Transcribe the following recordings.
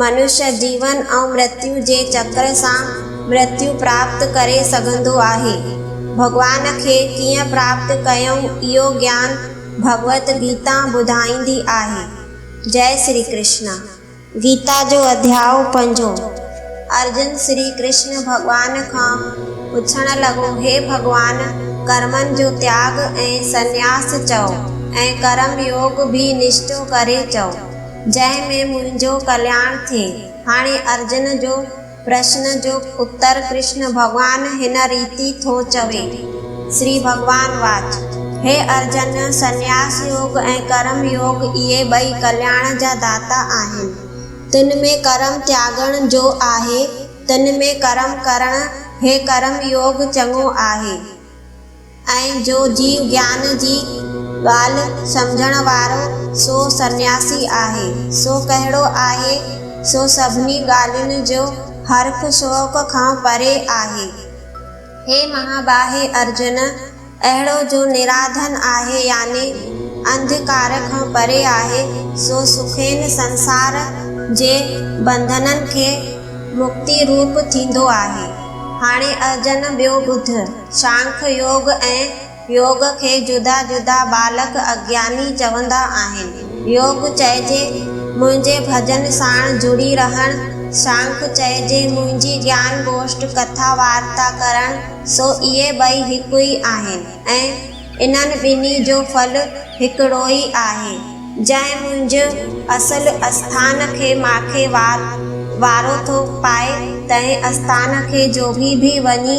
منش جيون ۽ مرتيو جي چڪر سان مرتيو پراپت ڪري سگهندو آهي. ڀڳوان کي ڪيئن پراپت ڪيون اهو گيان ڀڳوت گيتا ٻڌائيندي آهي. جئه شري ڪرشن. گيتا جو اڌياء پنجون. ارجن شري ڪرشن ڀڳوان کان پڇڻ لڳو هي ڀڳوان ڪرمن جو تياڳ ۽ سنياس چئو ۽ ڪرم يوگ ڀي نشٽو ڪري چئو. جنهن ۾ منهنجو ڪلياڻ ٿئي. هاڻي ارجن جو پرشن جو اتر ڪرشن ڀڳوان هن ريتي ٿو چوي، شري ڀڳوان واچ، هي ارجن! سنياس يوگ ۽ ڪرم يوگ اهي ٻئي ڪلياڻ جا داتا آهن. تن ۾ ڪرم تياڳڻ جو آهي، تن ۾ ڪرم ڪرڻ، هي ڪرم يوگ چڱو آهي. ۽ جو جيو گيان جي ڳالهه سمجهڻ وارو سو سنياسي آهي. سو ڪهڙو آهي؟ سو سڀني ڳالهين جو هرک شوق کان پري آهي. هي مهاباهي ارجن! اهڙو جو نراڌن آهي يعني انڌڪار کان پري آهي، سو سکين سنسار جي بنڌنن کي مڪتي روپ ٿيندو آهي. هاڻي ارجن ٻيو ٻڌ. سانک يوگ ۽ يوگ کي جدا جدا ٻالڪ اگياني چوندا آهن. يوگ چئجي منهنجي ڀڄن ساڻ جڙي رهڻ، سانک چئجي منهنجي گيان گوشٽ ڪٿا وارتا ڪرڻ، سو اهي ٻئي هڪ ئي آهن ۽ انهن ٻنهي جو ڦل هڪڙوئي آهي. جنهن منهنج اصل اسٿان کي ماکي وارو ٿو پائي، تنهن اسٿان کي جوڳي به وڃي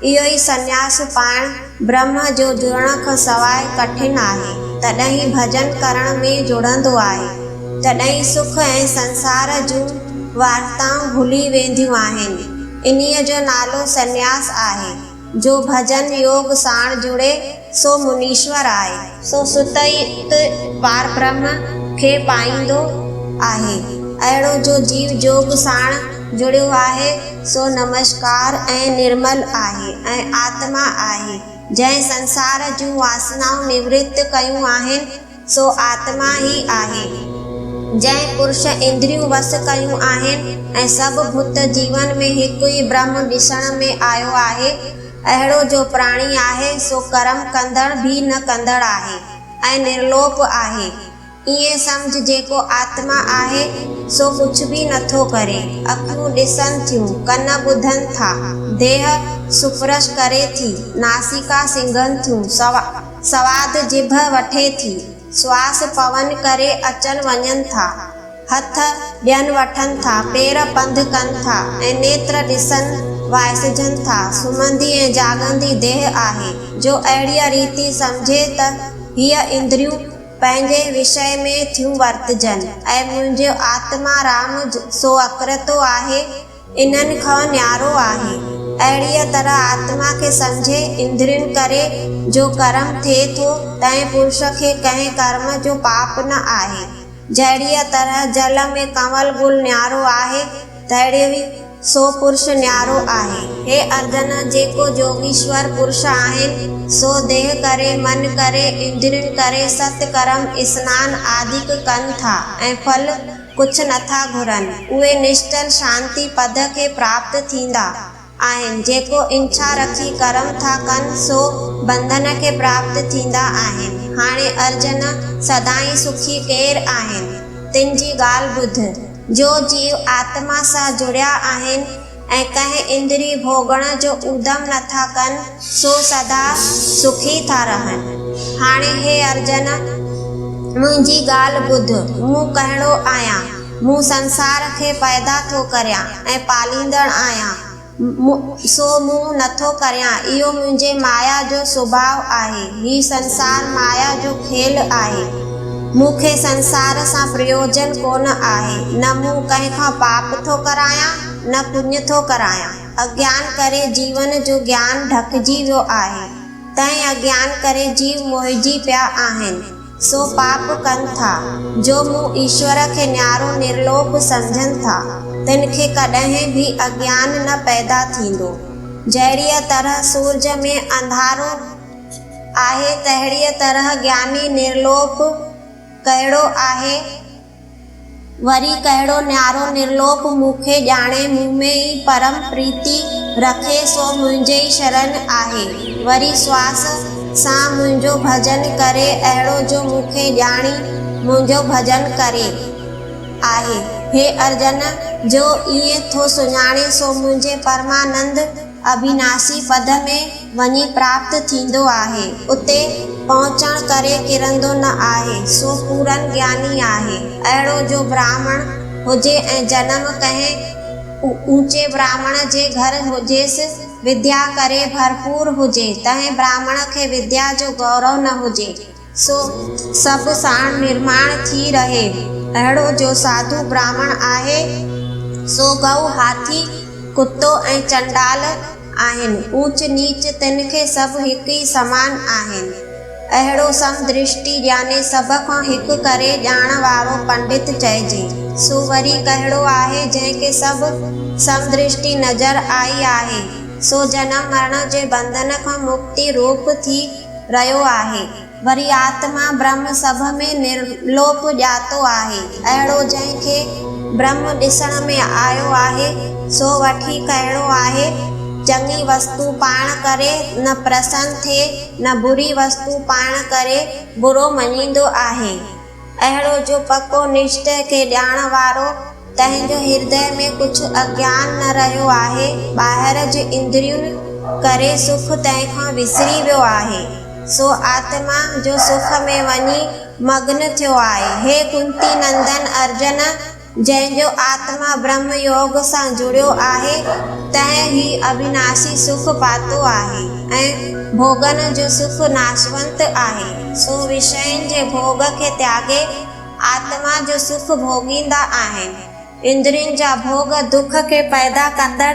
اهو ئي سنياس پائڻ برهمه جو جڙڻ کان سواء ڪٺن آهي، تڏهن ئي ڀڄن ڪرڻ ۾ جڙندو آهي، تڏهن ئي سک ۽ سنسار جون وارتائون ڀلي وينديون آهن، انهيء جو نالو سنياس آهي، جو ڀڄن يوگ ساڻ جڙي، سو منيشور آهي. سو ست ئي ات پاربرهم کي پائيندو آهي. اهڙو جو جيو جوڳ ساڻ جڙيو آهي، سو نمشڪار ۽ نرمل آهي ۽ آتما آهي، جنهن سنسار جون واسنائون نورت ڪيون آهن، سو آتما ئي آهي، جنهن پرش اندريون وس ڪيون آهن ۽ سڀ ڀوت جيون ۾ هڪ ئي برهم ڏسڻ ۾ آيو آهي. اهڙو جو پراڻي آهي، سو ڪرم ڪندڙ ڀي نه ڪندڙ آهي ۽ نرلوپ آهي. ائين سمجهه جيڪو آتما آهي، سو ڪجهه ڀي نٿو ڪري. اکيون ڏسن ٿيون، ڪن ٻڌن ٿا، ديهه سپرش ڪري ٿي، ناسيڪا سنگهن ٿيون، سواس. سواد جڀ وٺي ٿي، سواس پون ڪري اچن وڃن ٿا، هٿ ڏين وٺن ٿا، پير پنڌ ڪن ٿا ۽ نيتر ڏسن وائسجن ٿا، سمهندي ۽ جاڳندي ديهه آهي، جو اهڙيء ريتي سمجهي ته هيء اندريون پنهنجي وشيه ۾ ٿيون ورتجن ۽ منهنجو آتما رام سو اڪرتو آهي، انهن کان نيارو آهي. اهڙيء طرح آتما کي سمجهي اندرين ڪري جو ڪرم ٿئي ٿو، تنهن پرش کي ڪنهن ڪرم جو پاپ نه آهي. جهڙيء طرح جل ۾ ڪنول گل نيارو آهي، تهڙيوئي سو پرش نيارو آهي. هي ارجن! جيڪو جوڳيشور پرش آهن، سو ديهه ڪري، من ڪري، اندرين ڪري، ست ڪرم، اسنان آدڪ ڪن ٿا ۽ ڦل، ڪجهه نه ٿا گهرن، اهي نشچل شانتي پد کي پراپت ٿيندا آهن، جيڪو انڇا رکي ڪرم ٿا ڪن، سو بنڌن کي پراپت ٿيندا آهن. هاڻي ارجن، سدائين سکي ڪير آهن؟ تن جي ڳالهه ٻڌ، جو جيو آتما سان جڙيا آهن، ۽ ڪنهن اندري ڀوڳڻ جو اودم نه ٿا ڪن، سو سدا سکي ٿا رهن. هاڻي هي ارجن! منهنجي ڳالهه ٻڌ، مون ڪهڙو آهيان؟ مون سنسار کي پيدا ٿو ڪريان ۽ پاليندڙ آهيان، سو مون نٿو ڪريان، اهو منهنجي مايا جو سڀاء آهي. هي سنسار مايا جو کيل آهي. مون کي سنسار سان پريوجن ڪونه آهي، نه مون ڪنهن کان پاپ ٿو ڪرايان، نه پڃ ٿو ڪرايان. اگيان ڪري جيون جو گيان ڍڪجي ويو آهي. تنهن اگيان ڪري جيو موهجي پيا آهن. سو پاپ ڪن ٿا. جو مون ايشور کي نيارو نرلوڪ سمجهن ٿا. تن کي ڪڏهن به اگيان نه پيدا ٿيندو. جهڙيء طرح سورج ۾ انڌارو آهي تهڙيء طرح گياني نرلوڪ ڪهڙو آهي؟ وري ڪهڙو نيارو نرلوڪ مون کي ڄاڻي، مون ۾ ئي پرم پريتي رکي، سو منهنجي ئي شرن آهي. وري سواس سان منهنجو ڀڄن ڪري، اهڙو جو مون کي ڄاڻي منهنجو ڀڄن ڪري. آهي هي ارجن جو ائين ٿو سڃاڻي، سو منهنجي پرمانند اڀيناسي پد ۾ وڃي پراپت ٿيندو آهي، اتي پهچڻ ڪري ڪرندو نه آهي، سو پورن گياني آهي، اهڙو جو براهمڻ هجي ۽ جنم ڪنهن اوچي براهمڻ جي گهر هجيس، وديا ڪري ڀرپور هجي، تنهن براهمڻ کي وديا جو گورو نه هجي، سو سڀ ساڻ نرماڻ ٿي رهي. اهڙو جو ساڌو براهمڻ آهي، سو گئو، هاٿي، ڪتو ۽ چنڊال آهن. اوچ نيچ تن کي سڀ هڪ ئي سمان آهن. اهڙو سم درشٽي يعني سڀ کان هڪ ڪري ڄاڻڻ وارو پنڊت چئجي. سو وري ڪهڙو آهي جنهن کي سڀ سم درشٽي نظر آئي آهي، سو جنم مرڻ جي بنڌن کان مڪتي روپ ٿي رهيو آهي، وري آتما برهم سڀ ۾ نرلوپ ڄاتو آهي، اهڙو جنهن کي برهم ڏسڻ ۾ آيو آهي، سو وٺي کهيڙو آهي، چڱي وستو پاڻ ڪري نه پرسن ٿئي نه بري وستو پاڻ ڪري برو مڃيندو آهي. اهڙو جو پڪو نشچئه کي ڄاڻڻ وارو، تنهن جو هردئ ۾ ڪجهه اگيان نه رهيو آهي، ٻاهر جي اندريون ڪري سک تنهن کان وسري ويو آهي، سو آتما جو سک ۾ وڃي مگن ٿيو آهي. هي ڪنتي نندن ارجن! جنهن جو آتما برهم يوگ سان جڙيو آهي، تنهن هي اڀيناشي سک پاتو آهي ۽ ڀوڳن جو سک ناشونت آهي. سو وشين جي ڀوڳ کي تياڳي، آتما جو سک ڀوڳيندا آهن. اندرين جا ڀوڳ دک کي پيدا ڪندڙ،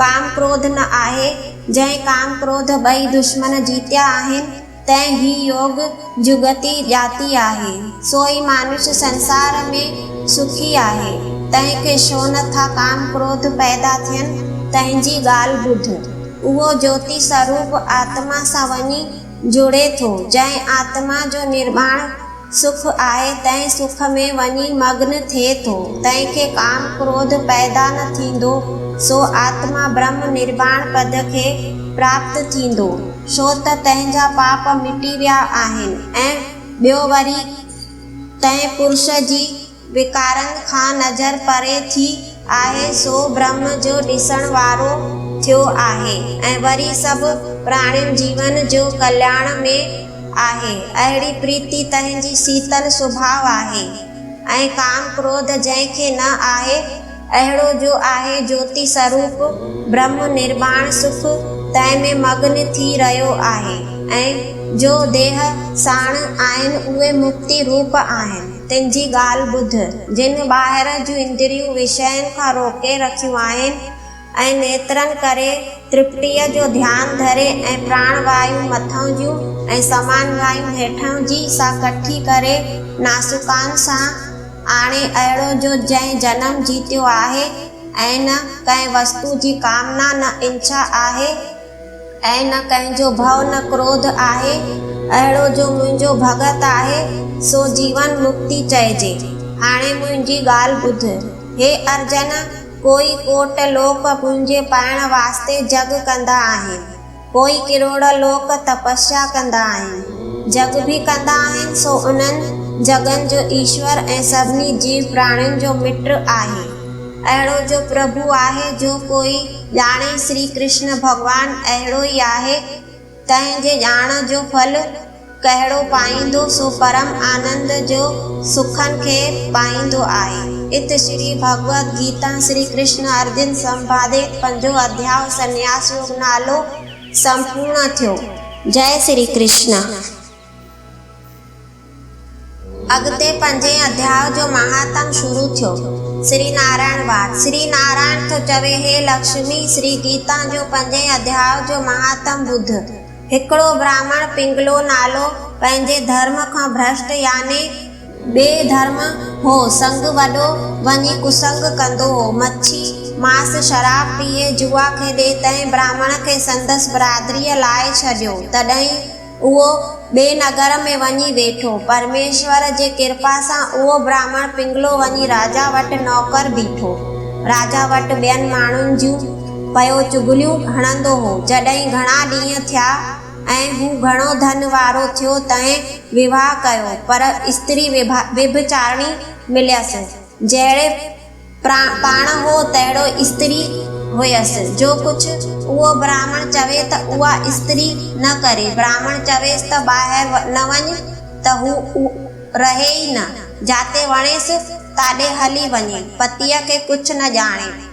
ڪام ڪروڌ نه آهي، جنهن ڪام ڪروڌ ٻئي دشمن جيتيا آهن، تنهن هي يوگ جڳتي ڄاتي آهي، سو ئي مانوس سنسار ۾ سکي آهي، تنهن کي ڇو نه ٿا ڪام ڪروڌ پيدا ٿين، تنهن جي ڳالهه ٻڌ، اهو جوتي سروپ آتما سان وڃي جڙي ٿو، جنهن آتما جو نرماڻ. سک آهي تنهن سک ۾ وڃي مگن ٿئي ٿو، تنهن کي ڪام ڪروڌ پيدا نه ٿيندو، سو آتما برهم نرواڻ پد کي پراپت ٿيندو، ڇو ته تنهن جا پاپ مٽي ويا آهن ۽ ٻيو وري تنهن پرش جي. وڪارن کان نظر پري ٿي آهي سو برهمه جو ڏسڻ وارو ٿيو آهي ۽ وري سڀ پراڻين جيون جو ڪلياڻ ۾ آهي اهڙي پريتي تنهن جي سيتل سڀاء آهي ۽ ڪام ڪروڌ جنهن کي نه آهي اهڙو جو آهي جوتي سروپ، برهم نرباڻ سک، تنهن ۾ مگن ٿي رهيو آهي ۽ جو ديهه ساڻ آهن اهي مڪتي روپ آهن. تن جي ڳالهه ٻڌ، جن ٻاهر جون اندريون وشين کان روڪي رکيون آهن ۽ نيترن ڪري ترپٽيء جو ڌيان ڌري ۽ پراڻ وايون مٿئون جون ۽ سمان وايون هيٺئون جي سان ڪٺي ڪري ناسڪان سان آڻي اهڙو جو جنهن جنم جيتيو آهي ۽ نه ڪنهن وستو جي ڪامنا نه انڇا آهي ۽ نه ڪنهن جو ڀؤ نه ڪروڌ آهي اهڙو جو منهنجو ڀڳت آهي سو جيون مڪتي چئجي. هاڻي منهنجي ڳالهه ٻڌ. هي ارجن! ڪوئي ڪوٽ لوڪ منهنجي پائڻ واسطي جڳ ڪندا آهن. پوء ڪروڙ لوڪ تپسيا ڪندا آهن، جڳ به ڪندا آهن، سو انهن جڳن جو ايشور ۽ سڀني جيو پراڻين جو مٽ آهي. اهڙو جو پرڀو آهي، جو ڪوئي ڄاڻي، شري ڪرشن ڀڳوان اهڙو ئي آهي، تنهن جي ڄاڻ جو ڦل، ڪهڙو پائيندو سو پرم آنند جو سکن کي پائيندو آهي. ات شري ڀڳوت گيتا شري ڪرشن ارجن سنڀادي پنجون اڌياء سنياس يوگ نالو سمپورڻ ٿيو. جئه شري ڪرشن. اڳتي پنجين اڌياء جو مهاتم شروع ٿيو. شري نارائڻ واد. شري نارائڻ ٿو چوي هي لڪشمي شري گيتا جو پنجين اڌياء جو مهاتم ٻڌ. هڪڙو براهمڻ پنگلو نالو پنهنجي ڌرم کان ڀرشٽ يعني ٻئي ڌرم هو سڱ وڏو وڃي ڪسڱ ڪندو هو مڇي ماس شراب پيئي جوا کيڏي تنهن براهمڻ کي سندس برادريء لائي ڇڏيو تڏهين اهو ٻئي نگر ۾ وڃي ويٺو پرميشور جي ڪرپا سان اهو براهمڻ پنگلو وڃي راجا وٽ نوڪر بيٺو راجا وٽ ٻين ماڻهن جون پيو چغليون هڻندو هو. جڏهن گهڻا ڏينهن ٿيا ۽ هو گهڻو ڌن وارو ٿيو تنهن وواهه ڪيو پر استري وڀچارڻي مليس. جهڙي پاڻ هو تهڙو استري هئيس. جو ڪجهه اهو براهمڻ چوي ته اها استري نه ڪري. براهمڻ چويس ته ٻاهر نه وڃ ته هو رهي ئي نه. جاتي وڻيس تاڏي هلي وڃي. پتيء کي ڪجهه نه ڄاڻي.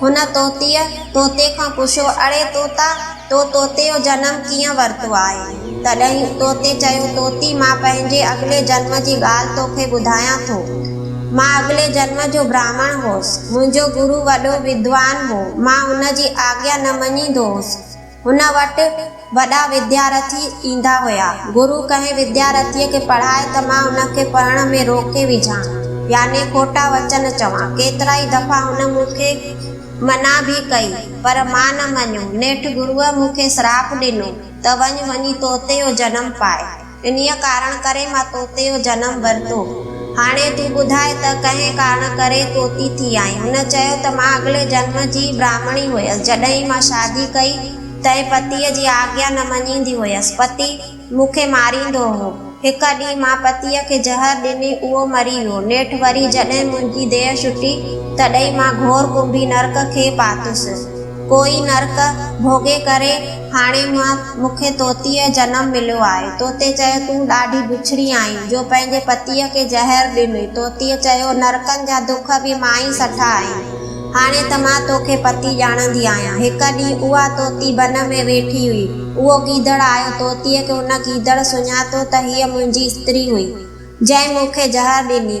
هن طوطيء طوطي کان پڇيو، اڙي طوطا، تو طوطي جو جنم ڪيئن ورتو آهي؟ تڏهن طوطي چيو، طوطي، مان پنهنجي اڳلي جنم جي ڳالهه توکي ٻڌايان ٿو. مان اڳلي جنم جو براهمڻ هوس. منهنجو گرو وڏو ودوان هو. مان ان جي آگيا نه مڃيندو هوس. هن وٽ وڏا وديارٿي ايندا هيا. گرو ڪنهن وديارٿيء کي پڙهائي ته مان ان کي پڙهڻ ۾ روڪي وجهان، يعني کوٽا وچن چوان. ڪيترائي دفعا هن مون کي منع به ڪئي، پر مان نه مڃيو. نيٺ گروء مون کي سراپ ڏنو ته وڃ، وڃي طوطي جو جنم پاء. انهيء ڪارڻ ڪري مان توتي اهو جنم ورتو. هاڻي تون ٻڌاء ته ڪنهن ڪارڻ ڪري توتي ٿي آئين؟ هن چيو ته مان اڳلي جنم جي براهمڻي هيس. جڏهن مان شادي ڪئي، تنهن پتيء جي آگيا نه مڃيندي هيس. پتي مون کي ماريندو هو. هڪ ڏينهن مان پتيء کي زهر ڏني، اهو مري ويو. نيٺ وري جڏهن منهنجي ديهه ڇٽي، تڏهن مان گهور ڪنڀي نرڪ کي پاتس. ڪوئي نرڪ ڀوڳي ڪري. هاڻي مان مون کي طوطيء جنم مليو آهي. طوطي چيو، تون ڏاڍي بڇڙي آهين، جو پنهنجي پتيء کي زهر ڏنئي. طوطيء چيو، نرڪن جا دک به مان ئي سٺا آهن. هاڻي ته مان تو کي پتي ڄاڻندي آهيان. هڪ ڏينهن اها طوطي بن ۾ ويٺي هئي. اهو گيدڙ آيو. طوطيء کي ان گيدڙ سڃاتو ته هيء منهنجي استري هئي، جنهن مون کي زهر ڏني.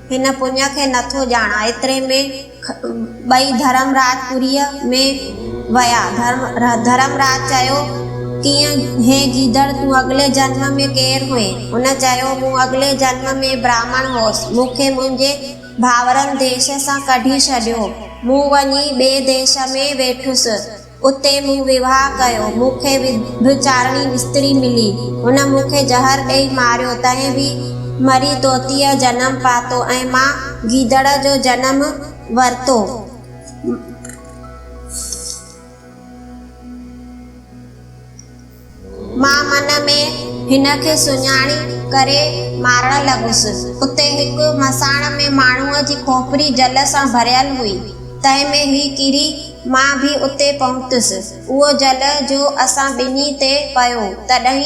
هن پڃ کي نه ٿو ڄاڻان. ايتري ۾ ٻئي ڌرمراج پوريء ۾ ويا. ڌرمراج چيو، ڪيئن هي گيدڙ، تون اڳلي جنم ۾ ڪير هئين؟ هن چيو، مون اڳلي جنم ۾ براهمڻ هوس. مون کي منهنجي ڀائرن ديش سان ڪڍي ڇڏيو. مون وڃي ٻئي ديش ۾ ويٺس. اتي مون ويواهه ڪيو. مون کي ويڀچارڻي استري ملي. هن مون کي زهر ڏيئي ماريو. تنهن به مري طوطيء جنم پاتو ۽ مان گيدڙ جو جنم ورتو. مان من ۾ هن کي سڃاڻي ڪري مارڻ لڳس. اتي هڪ مساڻ ۾ ماڻهوء جي کوپري جل سان ڀريل هئي. تنهن ۾ هي ڪري مان به اتي پهتس. اهو جل جو اسان ٻنهي تي پيو، تڏهن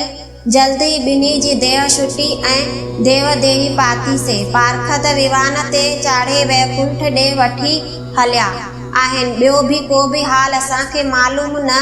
جلد ئي ٻنهي جي ديهه شٽي ۽ ديوه ديهي پاتيسين. پارکت ويوان تي چاڙهي ويڪنٺ ڏي وٺي هليا آهن. ٻيو به ڪو به حال اسان کي معلوم نه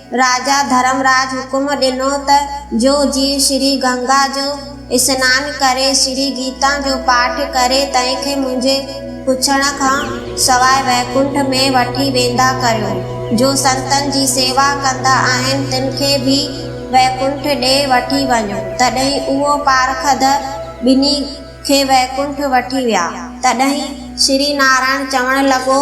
راجا ڌرمراج حڪم ڏنو ته جو جيئن شري گنگا جو اسنان ڪري شري گيتا جو پاٺ ڪري تنهن کي منهنجي پڇڻ کان سواء ويڪنٺ ۾ وٺي ويندا ڪريو. جو سنتن جي سيوا ڪندا آهن تن کي به ويڪنٺ ڏي وٺي وڃو. تڏهن اهو پارکڌ ٻنهي کي ويڪنٺ وٺي ويا. تڏهن شري نارائڻ چوڻ لڳو